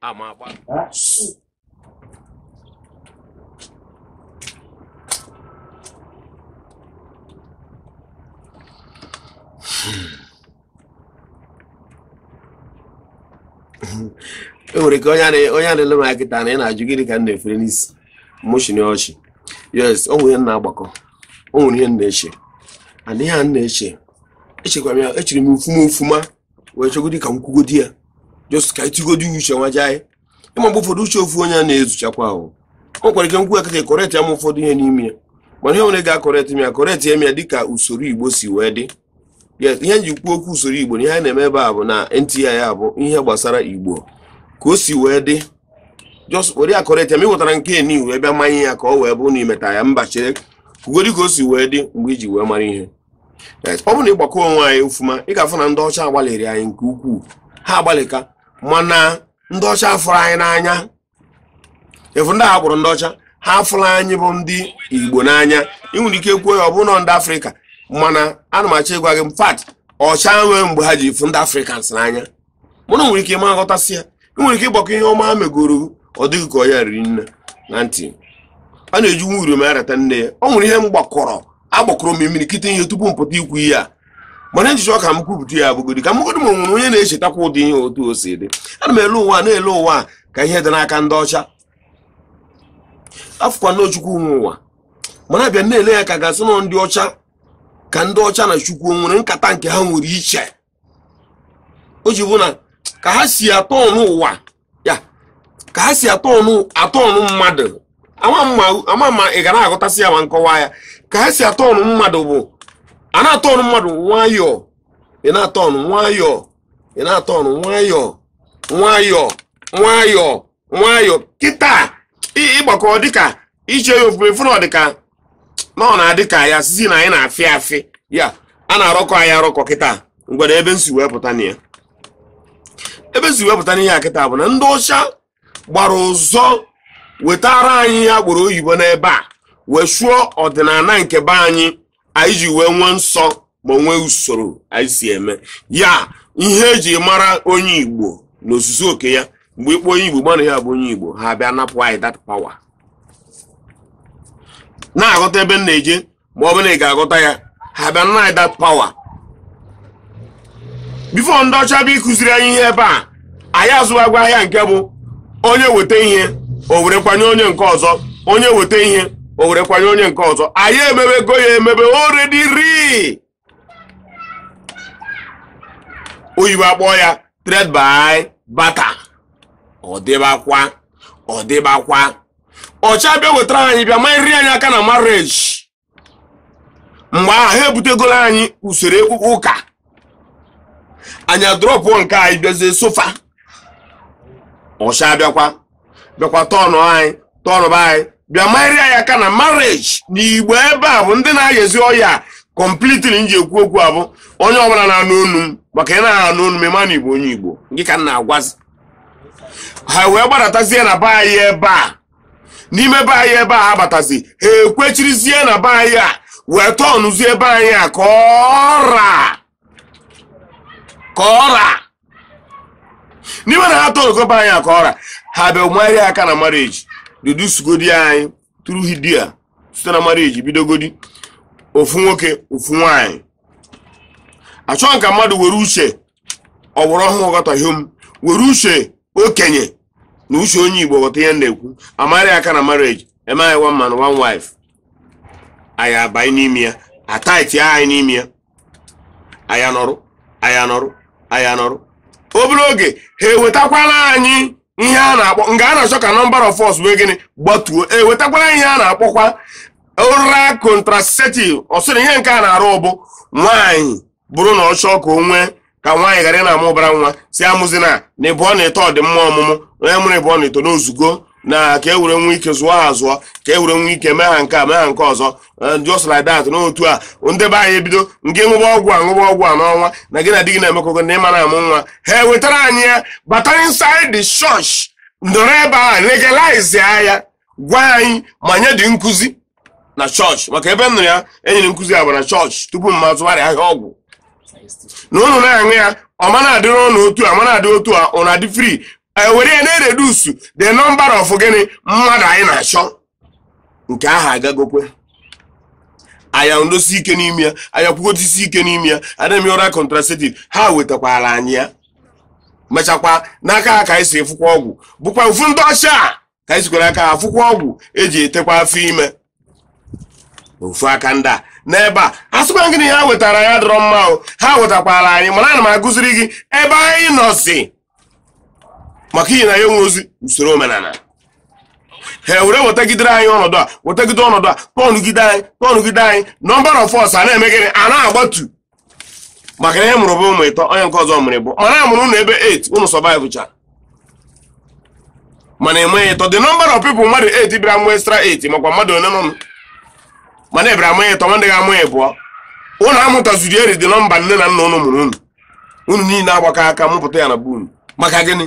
ama agba e nwere ike onye na-ele m kịta na ị na-ajụ gịnị ka m na-efere n'isi mụchini ọchị yes o nwere ihe m na-agbakọ o nwere ihe m na-eche and ihe a m na-eche echekwa m ya echere m ofuma ofuma wee chọgodi ka m kwugodi ya just ka i tigodi uche nwa jee ị ma mgbe ụfọdụ uche ofu onye a na-ezuchakwa ahụ o nwere ike m kwuo kịta correct ya ma ụfọdụ ihe n'ime ya mana ihe nwere ga-acorrect m ya correct ya m ya dịka usoro igbo si wee dị yes ihe m ji kwuo okwu usoro igbo na ihe anyị na-eme ebe a bụ na NTI ya bụ ihe gbasara igbo ka o si wee dị just were ya correct ya ma ị wetara nke niu ebe manye ya ka ọ wee bụ na imeta ya mba chere kwugodi ka o si wee dị mgbe i ji wee mara ihe ọ bụrụ na ị gbakọ onwe anyị ofuma ị ga-afụ na ndị ọcha agbalịrị anyị nke ukwuu ha agbalịka mana ndị ọcha afụrọ anyị n'anya ị fụ ndị a kpọrọ ndị ọcha ha afụrọ anyị bụ ndị igbo n'anya ị nwere ike kwuo ya ọ bụ na ndị africa mana ana m achọ ịgwa gị in fact ọcha nwee mgbe ha ji fụ ndị africans n'anya mana o nwere ike ị ma aghọtasị ya ị nwere ike ịgbakọ ihe ọma ha megoro ọ dị gị ka ọ ya riri nne na ntị a na-eji nwa uriom arata nne ya ọ nwere ihe m gbakọrọ agbakọrọ m imirikiti ihe tupu m pụta ikwu ihe a mana m ji chọọ ka m kwupụta ya bụgodi ka m gegodi ma o nwere onye na-echetakwa ụdị ihe otu o si dị ana m ele ụwa na-ele ụwa ka ihe dị n'aka ndị ọcha afụkwa na chukwu nwe ụwa mana a bịa na-ele ya ka a ga-asị na ndị ọcha ka ndị ọcha na chukwu nwere nkata nke ha nwere iche o ji bụ na ka ha si atọnụ ụwa ya ka ha si atọnụ mmadụ ama m ma ị ga na-aghọtasị ya ma m kọwaa ya ka ha si atọnụ mmadụ bụ a na-atọnụ mmadụ nwayọọ ị na-atọnụ nwayọọ ị na-atọnụ nwayọọ nwayọọ nwayọọ nwayọ kịta ị gbakọ dịka iche ya ofufe fụrụ dịka na ọ na-adị ka ya sịzị na anyị na-afị afị ya a na-arọkọ anyị arọkọ kịta ngwere ebe m si wee pụta na ya ebe m si wee pụta n'ihe a kịta bụ na ndị ọcha gbara ụzọ wetara anyị ihe a kpọrọ oyibo n'ebe a wee chụọ ọdịnala nke be anyị anyị ji wee nwee nsọ ma nwee usoro anyị si eme ya ihe e ji mara onye igbo n'ozuzu oke ya mgbe ị kpọ onye igbo gbana ya bụ onye igbo ha bịa napụ anyị that power na-aghọta ebe m na-eje ma ọ bụ na ị ga-aghọta ya ha bịa naa anyị that power before ndị ọcha bịa ịkụziri anyị ihe ebe a anyị azụwagwa ahịa nke bụ onye weta ihe o were kwanye onye nke ọzọ onye weta ihe o were kwanye onye nke ọzọ anyị emebego ya emebe already ndị oyibo akpọ ya trade by barter ọ dịbakwa ọ dịbakwa ọcha bịa wetara anyị bịa marịa anyị aka na marriage mgbe ahụ ha ebutegoro anyị usoro ekpukpe ụka anyị adrọpụ nke anyị bịazie so fa ọcha bịakwa bịakwa tọnụ anyị tọnụba anyị bịa marịa anyị aka na marriage na igbo ebe a bụ ndị na-ayezi ọya completely m ji ekwu okwu a bụ onye ọbụla na-anụ onu m maka ị na-anụ onu m ị ma na igbo onye igbo gị ka m na-agwazi ha wee gbadatazie na be anyị ebe a n'ime be anyị ebe a ha batazi ha ekwechirizie na be anyị a wee tọọnụzie be anyị a ka ọra ka ọra n'ime na ha tọọnụgo be anyị a ka ọra ha bịa marịa aka na marriage reducegodi anyị tụrụ hidia site na marriage bidogodi ofu nwoke ofu nwanyị achọghị m ka mmadụ were uche ọgbara ọhụrụ ghọta ihe m were uche okenye na uche onye igbo ghọta ihe a na-ekwu a marịa aka na marriage e mee ya one man one wife anyị abanye n'ime ya ataiti anyị n'ime ya anyị anọrụ anyị anọrụ anyị anọrụ obere oge ha ewetakwala anyị ihe a na-akpọ nga a na-achọ ka number of us wee gịnị gbatuo ewetakwala ihe a na-akpọkwa oral contraceptive ọ sịrị ihe nke a na-arụ bụ nwaanyị bụrụ na ọ chọọ ka o nwee ka nwaanyị ghara na-amụ ụbara nwa sị amụzina na ịbụọ na ịtọ dị mma ọmụmụ onye mụrụ ịbụọ na ịtọ na o zugo na ka e were nwee ike zụọ ha azụọ ka e were nwee ike mee ha nke a mee ha nke ọzọ eh, just like that n'otu a ndị be anyị ebido nke ṅụba ọgwụ a ṅụba ọgwụ a n'ọnwa na gị na di gị na-emekọgo na ị ma na-amụ nwa ha ewetara anyị ya bata inside the church ndọrọ ebe a legalize ya gwa anyị ma nyedị nkụzi na church maka ebe m nụrụ ya e nyere nkụzi a bụ na church tupu m azụgharị ahịa ọgwụ na ụnụ na-aṅụ ya ọ ma na-adịrị ụnụ otu a ma na-adị otu a ụnụ adị free e were ya na-reduce the number of gịnị mmadụ anyị na-achọ nke ahụ agagokwa anyị anọdosi ike n'ime ya anyị akwụgodosi ike n'ime ya adịghị m oral contraceptive ha wetakwara anyị ya mechakwa n'aka ha ka anyị si afụkwa ọgwụ bụkwa ofu ndị ọcha ka anyị sikwara aka afụkwa ọgwụ e ji etekwa afọ ime ofu aka ndị a n'ebe a a sịkwa gịnị ha wetara anyị dọrọ mma o ha wetakwara anyị mana ana m agụziri gị ebe anyị nọzi maka ihi na anyị enwerozi usoro omenala ha ewere wetagidere anyị ọnọdụ a wetagide ọnọdụ a tọnụgide anyị tọnụgide anyị number of us ana-eme gịnị ana-agbatu maka na ihe ọ mụrụ bụ ụmụ ịtọ onye nke ọzọ mụrụ ịbụọ mana a mụrụ ụnụ ebe 8 ụnụ survive cha mana enweghị ịtọ the number of people mmadụ 8 bịara mụ extra 8 makwa mmadụ one nọ mana ebịara amụ ịtọ ndị ga-amụ ịbụọ ụnụ amụtaziri eri the number nne na nna ụnụ mụrụ ụnụ ụnụ niile agbakọ aka mụpụta ya na bụ maka gịnị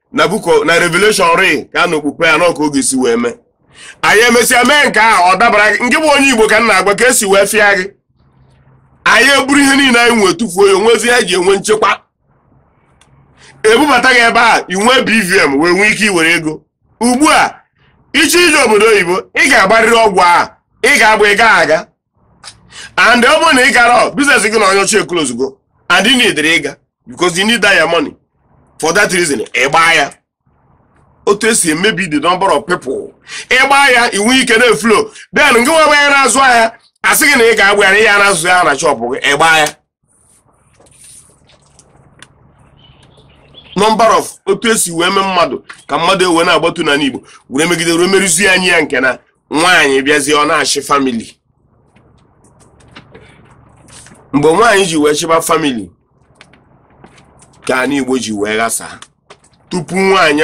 na book of revelation ri ka na okpukpe ya n'ọka oge si wee mee anyị emesịa mee nke ahụ ọ dabara gị ngị bụ onye igbo ka m na-agwa ka e si wee fịa gị anyị eburu ihe niile anyị nwee tụfuo ya o nwezi ihe e ji enwe nchekwa ebubata gị ebe a ị nwee bvn wee nwee ike iwere ego ugbu a ị chọọ ije obodo oyibo ị ga-agbarịrị ọgwụ ahụ ị ga-agba ị gaghị aga and ọ bụrụ na ị gara business gị na onye ọcha eclosego and ị need ịga because you need that your money for that reason ị gbaa ya otu e si emebi the number of people ị gbaa ya ị nwee ike na-eflow then gị nwa ebe a na-azụ ahịa a sị gị na ị ga-agba ya na ị ya na-azụ ahịa na shop gị ị gbaa ya number of otu e si wee mee mmadụ ka mmadụ wee na-agbatu n'ala Igbo were megide were merụzie anyị ya nke na nwaanyị bịazie ọ na-achị family mgbe nwaanyị ji wee chịba family ka ala Igbo ji wee ghasaa tupu nwaanyị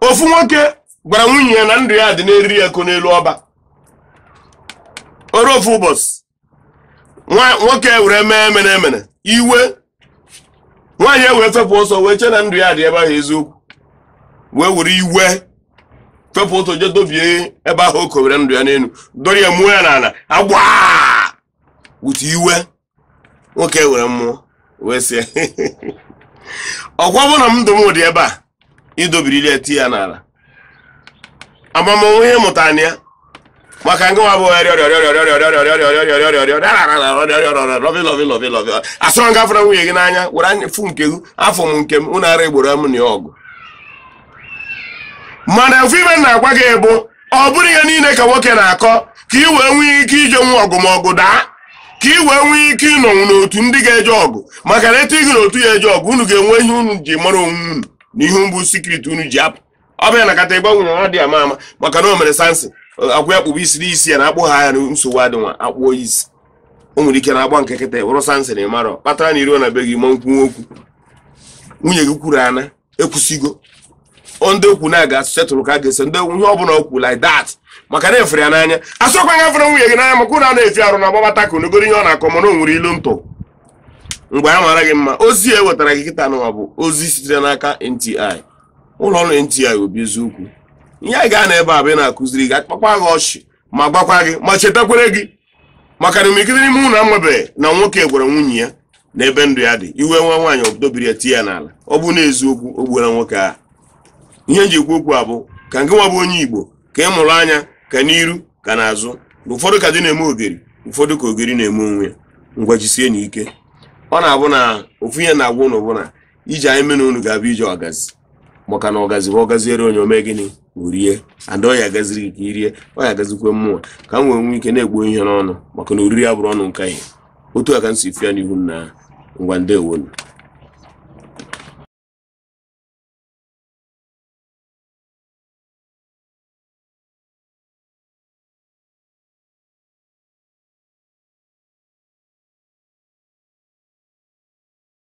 ofu nwoke gwara nwunye ya na ndụ ya dị n'eriri ya ko n'elu ọba o ruo ofu ụbọchị nwoke were mee emere emere iwe nwaanyị wee fepụ ọsọ wee chee na ndụ ya dị ebe ahụ eziokwu wee were iwe fepụ ọsọ je dọbie ebe ahụ o kowere ndụ ya n'elu dọrọ ya muo ya n'ala agba wute iwe nwoke were mmụọ wee sị ọkwa ọ bụ na m ndụ m dị ebe a ị dọbirili tie ya n'ala amamonwe ihe ị mụtara na ya maka ngị nwa bụ asịrọ gị afụla nwunye gị n'anya were anya fụ nke gị afụ m nke m ụnụ ara egboro m na ya ọgụ mana ofu ihe m na-agwa gị bụ ọ bụrọ ihe niile ka nwoke na-akọ ka ị wee nwee ike ijenwu ọgụ ma ọgụ daa ka ị wee nwee ike ịnọnwu n'otu ndị ga-eje ọgụ maka na e tinye gị n'otu ya eje ọgụ unu ga-enwe ihe unu ji mara onwe unu na ihe bụ secret unu ji apụ ọ bụrụ na ị kata ị gwa nwunye gị a dị ama ama maka na o mere samson akwụ ya kpụbụ isi n'isi ya na akpụ ha ya na nsogbu adị nwa akpụọ isi o nwere ike na agba nke kịta wụrụ samson na ị marọ ihe kpatara na ị ruo na be gị ma nkwuwa okwu nwunye gị kwuru ana ekwusigo ndị okwu na a ga-esettle ka a ga-esettle ihe ọ bụla okwu like that maka na ị fụrụ ya n'anya asịkwa gị afụla nwunye gị n'anya maka ụlọ a na-efi arụ na agbabata ka onogoro ihe ọ na-akọ mana o nwere ilu m tụ n'ebe a mara gị mma ozi e wetara gị kịta nụwa bụ ozi sitere n'aka NTI ụlọ ọrụ NTI obi eziokwu ihe anyị ga-ana ebe a bụ ị na-akụziri gị akpakwa gị ọchị ma gbakwa gị ume chetakwara gị maka na imirikiti n'ime ụnụ amabeghị na nwoke gwara nwunye ya na ebe ndụ ya dị iwe wee nwaanyị ọ dọbiri ya tie ya n'ala ọ bụ na eziokwu o gbuola nwoke a ihe m ji ekwu okwu a bụ ka ngị nwa bụ onye igbo ka ị mụrụ anya ka n'iru ka n'azụ na ụfọdụ ka di na-eme ogeri ụfọdụ ka ogeri na-eme onwe ya ngwa jisienụ ike ọ na-abụ na ofu ihe m na-agwa ụnụ bụ na ije anyị mụ na unu ga-abụ ije ọgazi maka na ọgazi bụ ọ gaziere onye o mee gịnị o rie and ọ ya-agaziri gị ka i rie ọ ya-agazikwe mụwa ka m wee nwee ike na-egbu ihe n'ọnụ maka na oriri ya bụrụ ọnụ nke ihe otu a ka m si fụ ya n'ihu m na ngwa ndewonu